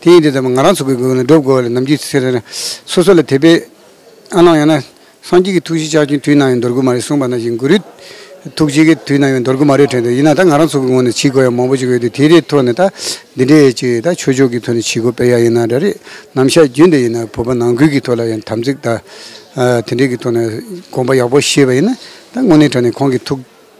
དེ་ཡིན་དེ་ཙམ་ང་རང་ཚོ་གི་དགོས་ན་སྒྲུབ་དགོས་བ་ལས་ནམ་རྒྱུན་ཟེར་ན་སོ་སོ་ལ་དད་པའི་ཨ་ནང་ཡང་ན་སངས་རྒྱས་ཀྱི་ཐུགས་བཞེད་ལྕགས་ཀྱུ་དུས་ནང་ཡང་འདོར་དགོས་མ་རེད་གསུངས་པ་ནང་བཞིན་གུ་རུའི་ཐུགས་བཞེད་ཀྱི་དུས་ནང་ཡང་འདོར་དགོས་མ་རེད་དྲན་འདུག་ཡིན་ན་ད་ང་རང་ཚོ་གི་ངོ་ནས་བྱེད་དགོས་ཡ་མང་པོ་ཞིག་ཡོད་དུས་དེ་རེའི་ཐོག་ནས་ད་འདི་འདྲའི་ཡས་ཅིག་ད་ཆོས་ཕྱོགས་ཀྱི་ཐོག་ནས་བྱེད་དགོས་པའི་ཡ་ཡིན་ན་འདྲ་རེད་ནམ་བཤད་རྒྱུན་དེ་ཡིན་ན་བོད་པ་ནང་ཁུལ་གྱི་ཐོག་ལ་ཡང་དམ་ཚིག་ད་དེ་འདྲའི་གི་ཐོག་ནས་དགོངས་པ་ཡག་པོ་བཞེས་པ་ཡིན་ན་ད་དངོས་གནས་དྲན་ནས་ཁོང་གི་ཐུགས།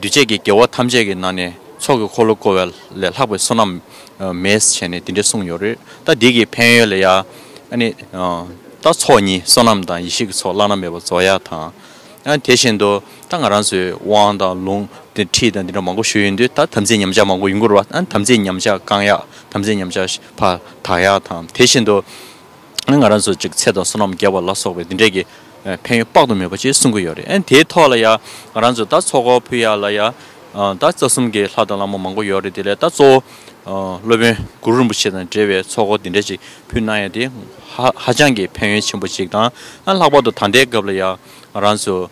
འདུས་བྱས་ཀྱི་དགེ་བ་ཐམས་ཅད་ཀྱི་ནང་ནས་ཚོགས་ཀྱི་འཁོར་ལོ་བསྐོར་བ་ལས་ལྷག་པའི་བསོད་ནམས་མེད་བྱས་ནས་དེ་འདྲ་གསུངས་ཡོད་རེད་ད་འདི་གི་ཕན་ཡོན་ལ་ཡང་ནི། ད་ཚོགས་གཉིས་བསོད་ནམས་དང་ཡེ་ཤེས་ཀྱི་ཚོགས་བླ་ན་མེད་པ་རྫོགས་ཡ་དང། དེ་བཞིན་དུ་ད་ང་རང་ཚོའི་དབང་དང་ལུང་དང་ཁྲིད་དང་འདི་འདྲ་མང་པོ་ཞུ་ཡོད་འདུག་ད་དམ་ཚིག་ཉམས་ཆག་མང་པོ་ཡུན་འགོར་བ་དམ་ཚིག་ཉམས་ཆག་བསྐང་ཡག་དམ་ཚིག་ཉམས་ཆག་ཕ་དག་ཡག་དང་དེ་བཞིན་དུ། ང་རང་ཚོ་ཅིག་ཚེ་དང་བསོད་ནམས་རྒྱས་པ་ལ་སོགས་པའི་འདི་འདྲས་ཀྱི་ཕན་ཡོན་དཔག་ཏུ་མེད་པ་ཅིག་གསུང་གི་ཡོད་རེད་ཨེ་དེའི་ཐོག་ལ་ཡང་ང་རང་ཚོས་ད་ཚོགས་འཁོར་ཕུལ་ཡག་ལ་ཡང་ད་རྩ་གསུམ་གྱི་ལྷ་དང་བླ་མ་མང་པོ་ཡོད་རེད་དེ་ལས་ད་གཙོ་བོ་སློབ་དཔོན་གུ་རུ་རིན་པོ་ཆེ་དང་འབྲེལ་བའི་ཚོགས་འཁོར་འདི་འདྲས་ཅིག་ཕུལ་གནང་ཡོད་དེ་ཧཧ་ཅང་གི་ཕན་ཡོན་ཆེན་པོ་ཅིག་དང་ལྷག་པར་དུ་ད་ལྟའི་སྐབས་ལ་ཡང་ང་རང་ཚོ་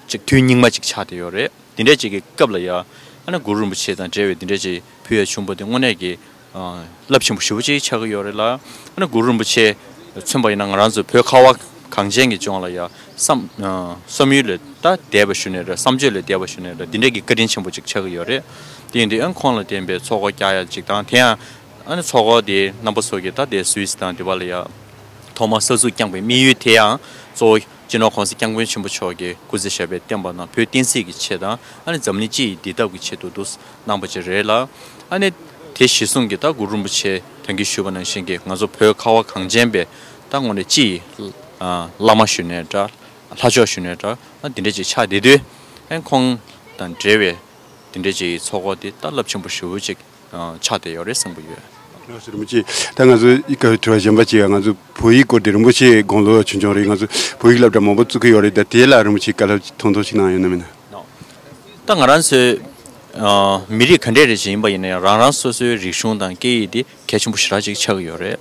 ཅིག་དུས་སྙིགས་མ་ཅིག་ཆགས་བསྡད་ཡོད་རེད་འདི་འདྲས་ཅིག་གི་སྐབས་ལ་ཡང་གུ་རུ་རིན་པོ་ཆེ་དང་འབྲེལ་བའི་འདི་འདྲས་ཅིག་ཕུལ་ཡག་ཆུང་པོ་འདི་དངོས་གནས་ཀྱི་རླབས་ཆེན་པོ་ཞི་བ་གཅིག་ཆགས་ཀྱི་ཡོད་རེད་ལ། ཨ་ནི་གུ་རུ་རིན་པོ་ཆེ་མཚོན་པ་ཡིན་ན་ང་རང་ཚོའི་བོད་ཁ་བ་གངས་ཅན་གྱི་ལྗོངས་ལ་ཡང་བསམ་ཡུལ་ལས་ད་འདས་པ་ཞུ་ནས་རེད་བསམ་སྤྱོད་ལས་འདས་པ་ཞུ་ནས་རེད་འདི་འདྲའི་གི་བཀའ་དྲིན་ཆེན་པོ་གཅིག་ཆགས་ཀྱི་ཡོད་རེད། དེ་ཡིན་དུས་ཨ་ནི་ཁོང་ལ་བརྟེན་པའི་ཚོགས་སྒོ་རྒྱག་ཡ་གཅིག་དང་དེ་ཡང་ཨ་ནི་ཚོགས་སྒོ་དེ་རྣམ་པ་ཚོ་གི་ད་འདས་སུའིས་དང་དེ་བ་ལ་ཡང་ཐོག་མར་ས་ཚུགས་བསྐྱངས་པའི་དམིགས་ཡུལ་དེ་ཡང་གཙོ་བོ་སྤྱི་ནོར ྋགོང་ས ྋསྐྱབས་མགོན་ཆེན་པོ་མཆོག་གིས་སྐུ་ཚེ་ཞབས་པད་བརྟན་པ་ན་བོད་བསྟན་སྲིད་ཀྱི་ཆེད་དང་ཨ་ནེ་འཛམ་གླིང་སྤྱི་ཡི་བདེ་ཐབས་ཀྱི་ཆེད་དུ་འདུག་གནང་པ་ཅིག་རེད་ལ། ཨ་ནེ་དེ་གཞི་བཟུང་གིས་ད་གུ་རུ་རིན་པོ་ཆེ་དོན་གྱིས་ཞུས་པ་ནང་བཞིན་གྱི་ང་ཚོ་བོད་ཁ་བ་གངས་ཅན་པས་ད་ངོ་ནས་སྤྱི་ཡི་བླ་མ་ཞུ་ནས་འདྲ། ལྷ་མཆོག་ཞུ་ནས་འདྲ་ཨ་དེ་འདྲ་ཅིག་ཆགས་བསྡད་དུས། ཨ་ཁོང་དང་འབྲེལ་བའི་དེ་འདྲ་ཅིག་གི་ཚོགས་འཁོར་དེ་ད་རླབས་ཆེན་པོ་ཧྲིལ་བོ་ཅིག་ཕྱག་དེ་ཡོད་རེད་བསམ་གྱི་ཡོད། ང་སུ་རིན་པོ་ཆེ་ད་ང་ཚོ་ཡིག་ག་དྲི་བ་གཞན་པ་ཅིག་ང་ཚོ་བོད་ཡིག་སྐོར་དེ་རིན་པོ་ཆེ་དགོངས་ལོ་ཆུང་ཆུང་རེད་ང་ཚོ་བོད་ཡིག་བསླབ་གྲྭ་མང་པོ་བཙུགས་གི་ཡོད་རེད་ད་དེ་ལ་རིན་པོ་ཆེ་བཀའ་སླབ་ཐུང་ཐུང་ཞིག་གནང་ཡོད་ན་མིན་ན། ད་ང་རང་ཚོའི་མི་རིགས་ག་འདྲས་རེད་ཅིག་ཡིན་པ་ཡིན་ན་ཡང་རང་རང་སོ་སོའི་རིག་གཞུང་དང་སྐད་ཡིག་དེ་གལ་ཆེན་པོ་ཞེ་དྲག་ཅིག་ཆགས་ཀྱི་ཡོད་རེད་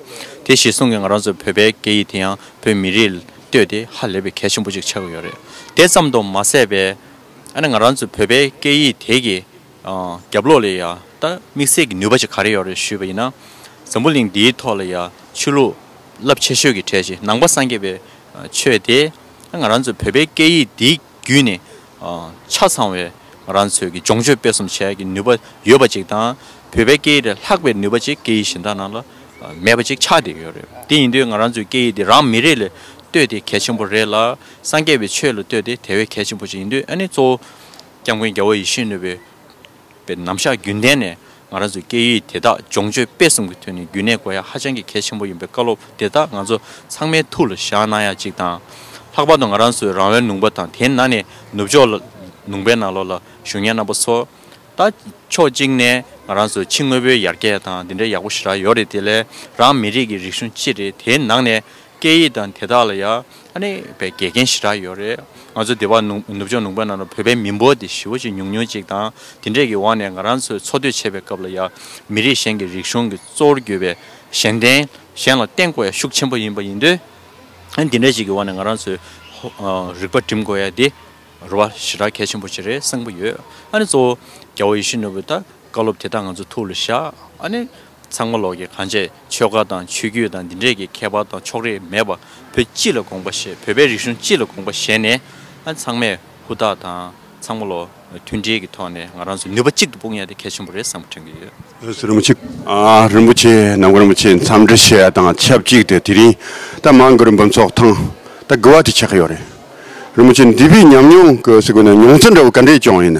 དེ་གཞི་བཟུང་གི་ང་རང་ཚོའི་བོད་པའི་སྐད་ཡིག་དེ་ཡང་བོད་མི་རིགས་ལ་ལྟོས་ཏེ་ཧ་ལས་པའི་གལ་ཆེན་པོ་ཅིག་ཆགས་ཀྱི་ཡོད་རེད་དེ་ཙམ་དུ་མ་ཟད་པའི་ང་རང་ཚོའི་བོད་པའི་སྐད་ཡིག་དེ་གི། རྒྱབ་ལོགས་ལས་ཡང་དག་དམིགས་བསལ་གྱི་ནུས་པ་ཞིག་ག་རེ་ཡོད་རེད་ཞུས་པ་ཡིན་ན། འཛམ་བུ་གླིང་འདིའི་ཐོག་ལ་ཡང་ཆོས་ལུགས་རླབས་ཆེ་ཤོས་ཀྱི་གྲས་ཤིག་ནང་པ་སངས་རྒྱས་པའི་ཆོས་དེ་ང་རང་ཚོའི་བོད་པའི་སྐད་ཡིག་འདིའི་བརྒྱུད་ནས་ཆ་ཚང་བའི་ང་རང་ཚོའི་གི་སྦྱོང་སྤྱོད་སྤེལ་གསུམ་བྱེད་ཡག་གི་ནུས་པ་ཡོད་པ་ཅིག་དང་བོད་པའི་སྐད་ཡིག་ལས་ལྷག་པའི་ནུས་པ་ཅིག་སྐད་ཡིག་གཞན་དག་ནང་ལ་མེད་པ་ཅིག་ཆགས་བསྡད་ཡོད་རེད་དེ་ཡིན་དུས་ང་རང་ཚོའི་སྐད་ཡིག་འདི་རང་མི་རིགས་ལ་ལྟོས་དེ་གལ་ཆེན་པོ་རེད་ལ་སངས་རྒྱས་པའི་ཆོས་ལ་ལྟོས་དེ་དེ་བས་གལ་ཆེན་པོ་ཅིག་ཡིན་དུས་ཨ་ནི་གཙོ་བོ་སྐྱབས་མགོན་རྒྱལ་བ་ཡེ་ཤེས་ནུས་པའི་པའི་ནམ་ཞག་རྒྱུན་ལྡན་ནས་ང་རང་ཚོའི་སྐད་ཡིག་དེ་དག་སྦྱོང་སྤྱོད་སྤེལ་གསུམ་གྱི་དོན་ནི་རྒྱུན་གནས་དགོས་ཡ་ཧ་ཅང་གི་གལ་ཆེན་པོ་ཡིན་པའི་བཀའ་སློབ་དེ་དག་ང་ཚོ་ཚང་མའི་ཐུགས་ལ་བཞག་གནང་ཡ་གཅིག་དང། ལྷག་པར་དུ་ང་རང་ཚོའི་རང་བའི་ནུང་པ་དང་དེའི་ནང་ནས་ནུབ་ཕྱོགས་ལ་ནུང་པའི་ནང་ལོགས་ལ་གཞུང་གཉེར་རྣམ་པ་ཚོ། ད་ཕྱོགས་གཅིག་ནས་ང་རང་ཚོའི་ཕྱི་དངོས་པོའི་ཡར་རྒྱས་དང་འདི་འདྲའི་ཡག་པོ་ཞེ་དྲག་ཡོད་རེད་དེ་ལས་རང་མི་རིགས་ཀྱི་རིག་གཞུང་ཅི་རེད་དེའི་ནང་ནས་སྐད་ཡིག་དང་དེ་དག་ལ་ཡ་ཨ་ནི་བའི་དགེ་རྒན་ཞེ་དྲག་ཡོད་རེད། ང་ཚོ་སྡེ་བ་ནུབ་ནུབ་ཕྱོགས་ནུབ་ཁ་ན་ལ་བོད་པའི་མི་འབོར་དེ་ཞི་བོ་ཅིག་ཉུང་ཉུང་ཅིག་དང་དེ་འདྲས་ཀྱི་འོག་ནས་ང་རང་ཚོས་འཚོ་སྡོད་བྱེད་པའི་སྐབས་ལ་ཡ་མི་རིགས་གཞན་གྱི་རིག་གཞུང་གི་གཙོ་བོར་གྱུར་པའི་གཞན་བརྟེན་གཞན་ལ་བརྟེན་དགོས་ཡ་ཤུགས་ཆེན་པོ་ཡིན་པ་ཡིན་དུས་དེ་འདྲས་ཅིག་གི་འོག་ནས་ང་རང་ཚོས་རིག་པ་བསྒྲིམ་དགོས་ཡ་དེ་རུ་བ་ཞེ་དྲག་གལ་ཆེན་པོ་ཅིག་རེད་བསམ་གྱི་ཡོད་ཨ་ནི་གཙོ་བོ་རྒྱ་བོ་ཡེ་ཤེས་ནོར་བུས་ད་བཀའ་སློབ་དེ་དག་ང་ཚོ་ཐུགས་ལ་བཞག་ཨ་ནི། ཚང་མ་ལོག་གི་གང་བྱས་ཆོལ་ཁ་དང་ཆོས་བརྒྱུད་དང་འདི་འདྲས་ཀྱི་ཁྱད་པར་དང་ཕྱོགས་རེས་མེད་པ་བོད་སྤྱི་ལ་དགོངས་པ་ཞེས་བོད་པའི་རིག་གཞུང་སྤྱི་ལ་དགོངས་པ་ཞེས་ནས་ཚང་མས་ཧུར་ཐག་དང་ཚང་མ་ལོག་མཐུན་སྒྲིལ་གྱི་ཐོག་ནས་ང་རང་ཚོ་ནུས་པ་གཅིག་ཏུ་སྤུངས་ཡ་དེ་གལ་ཆེན་པོ་རེད་བསམ་པ་དྲན་གྱི་ཡོད། ཨུ་སུ་རིན་པོ་ཆེ། རིན་པོ་ཆེ་ནམ་མཁའ་རིན་པོ་ཆེས་འཚམས་འདྲི་བྱས་དང་ཆབས་ཅིག་ཏུ་དེ་རིང་ད་མང་གི་རིན་འབུམ་ཚོགས་ཐང་ད་དགུ་བ་དེ་ཆགས་ཀྱི་ཡོད་རེད། རིན་པོ་ཆེ་འདི་བས་ཉམས་མྱོང་གི་སུ་གུ་ན་མྱོང་ཚོར་འདྲ་བོ་ག་འདྲས་བྱུང་ཡོད་ན།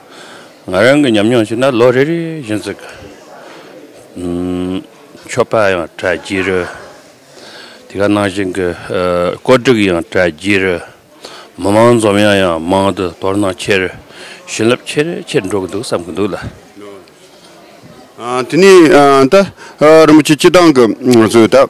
ང་རང་གི་ཉམས་མྱོང་ཞིག་ན་ལོ་རེ་རེ་བཞིན་གཟིགས། མཆོད་པ་ཡང་གྲ་རྒྱས་རོལ། དེ་ག་ནང་བཞིན་གྱི་བཀོད་སྒྲིག་ཡང་གྲ་རྒྱས་རོལ། མི་མང་འཛོམས་ཡང་ཡང་མང་དུ་དོར་སྣང་ཆེ་རོལ། བྱིན་རླབས་ཆེ་རེ་ཆེར་འགྲོ་གི་འདུག་བསམ་གྱི་འདུག་ལ། དེ་ནས་ད་རིན་པོ་ཆེ་སྤྱི་བཏང་གི་བཟོས་ད།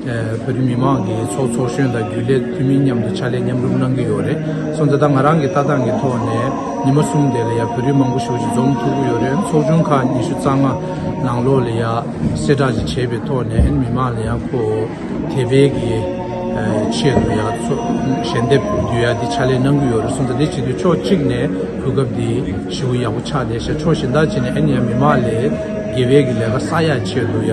བོད་རིགས་མི་མང་གི་ཚོགས་ཚོགས་གཞོན་དང་རྒྱུན་ལས་འཐུས་མི་མཉམ་དུ་ཕྱག་ལས་མཉམ་རུབ་གནང་གི་ཡོད་རེད་སོང་ད་ལྟ་ང་རང་གི་ལྟ་སྟངས་ཀྱི་ཐོག་ནས་ཉི་མ་གསུམ་དེ་ལ་ཡ་བོད་རིགས་མང་པོ་ཞུགས་ཤིག་འཛོམས་ཐུབ་ཀྱི་ཡོད་རེད་ཚོགས་ཆུང་ཁག་ཉི་ཤུ་རྩ་ལྔ་ནང་ལོགས་ལ་ཡ་གསལ་བསྒྲགས་ཅིག་བྱས་པའི་ཐོག་ནས་མི་མང་ལ་ཡ་ཁོ་བོ་དེ་བས་ཀྱི་ཆེད་དུ་ཡ་ཞལ་འདེབས་བསྡུས་ཡ་དེ་ཕྱག་ལས་གནང་གི་ཡོད་རེད་སོང་ད་དེ་བྱེད་དུས་ཕྱོགས་གཅིག་ནས་གོ་སྐབས་དེ་ཧྲིལ་བོ་ཡག་པོ་ཆགས་ཏེ་ཞལ་ཕྱོགས་གཞན་དག་བྱས་ནས་ཨེ་ནས་ཡ་མི་མང་ལས་དགེ་བས་ཀྱི་ལས་ཀ་བསགས་ཡ་ཆེད་དུ་ཡ།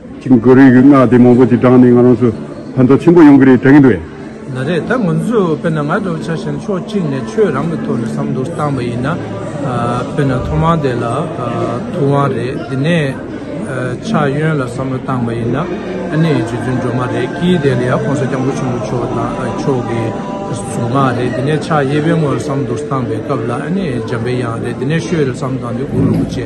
ཅིག་མགོ་རུས་ཀྱི་སྔགས་དེ་མང་པོ་ཅིག་བགྲངས་ནས་ང་རང་ཚོ་ཕན་ཐོགས་ཆེན་པོ་ཡོང་གི་རེད་དྲན་གྱི་འདུག་ཨེ། ན་རེ་ད་ང་ཚོས་དཔེར་ན་ང་འདོད་ཆགས་བཞིན་ཕྱོགས་གཅིག་ནས་ཆོས་རང་གི་ཐོག་ནས་བསམ་བློ་བཏང་བ་ཡིན་ན། དཔེར་ན་ཐོག་མར་དེ་ལ་ཐུབ་དབང་རེད་དེ་ནས་ཕྱག་གཡོན་ལ་བསམ་བློ་བཏང་བ་ཡིན་ན་ཨ་ནི་རྗེ་བཙུན་སྒྲོལ་མ་རེད་ཀྱིས་དེ་ལ་ཡང་གོང་ས་སྐྱབས་མགོན་ཆེན་པོ་མཆོག་དང་མཆོག་གི་གཟུངས་སྔགས་རེད་དེ་ནས་ཕྱག་གཡས་པའི་ངོས་ལ་བསམ་བློ་བཏང་བའི་སྐབས་ལ་ཨ་ནི་འཇམ་པའི་དབྱངས་རེད་དེ་ནས་བཤོས་རེ་བསམ་བཏང་སྟེ་འུག་ལུག་པོ་ཆེ།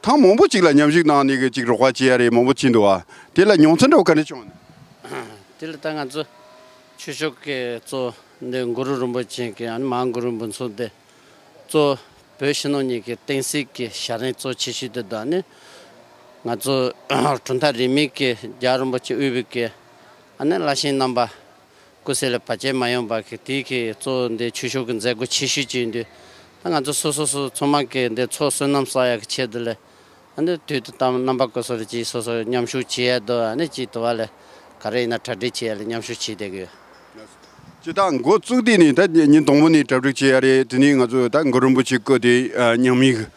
ཐང་མང་པོ་ཅིག་ལ་མཉམ་ཞུགས་གནང་ནས་གི་ཅིག་རོགས་པ་བྱེད་ཡ་རེད་མང་པོ་བྱིན་འདུག་ཨ། དེ་ལ་མྱོང་ཚོན་འདྲ་བོ་ག་རེ་བྱུང་ཨ། དེ་ལ་ད་ང་ཚོ་ཆོས་ཕྱོགས་ཀྱི་གཙོ་འདི་མགུ་རུ་རིན་པོ་ཆེ་གི་ཨ་ནི་མ་མགུ་རུ་འབུན་ཚོགས་འདི་གཙོ་བོད་ཕྱི་ནང་གཉིས་ཀྱི་བསྟན་སྲིད་ཀྱི་ཞལ་རས་གཙོ་ཆེ་ཞིག་འདི་འདུག་ཨ་ནི། ང་ཚོ་གྲུབ་མཐའ་རིས་མེད་ཀྱི་རྒྱ་རིན་པོ་ཆེ་དབུས་བོད་ཀྱི་ཨ་ནི་བླ་ཤེན་རྣམ་པ་སྐུ་སྲས་ལ་བར་ཆད་མ་ཡོང་པར་གི་དེའི་གི་གཙོ་བོ་འདི་ཆོས་ཕྱོགས་ཀྱི་མཛད་སྒོ་ཆེ་ཤོས་ཅིག་ཡིན་དུས། ད་ང་ཚོ་སོ་སོ་སོ་ཚོ་མང་གི་འདི་ཚོ་བསོད་ནམས་བསགས་ཡག་གི་ཆེད་དུ་ལས། ཨ་ནི་དུས་དུ་དམ་རྣམ་པ་བཀོད་སོགས་ལ་ཅིག་སོ་སོ་མཉམ་ཞུགས་བྱེད་ཡ་དུ་ཨ་ནི་ཅིག་དུ་བ་ལས། ག་རེ་ཡིན་ན་གྲ་སྒྲིག་བྱེད་ཡ་ལས་མཉམ་ཞུགས་བྱེད་བསྡད་གི་ཡོད། སྤྱི་བཏང་མགོ་བཙུགས་དུས་ནས་ད་ཉིན་དང་པོ་ནས་གྲ་སྒྲིག་བྱེད་ཡ་རེད་དེ་ནས་ང་ཚོ་ད་མགོ་རིན་པོ་ཆེ་བཀོད་དེ་ཉམས་ཡིག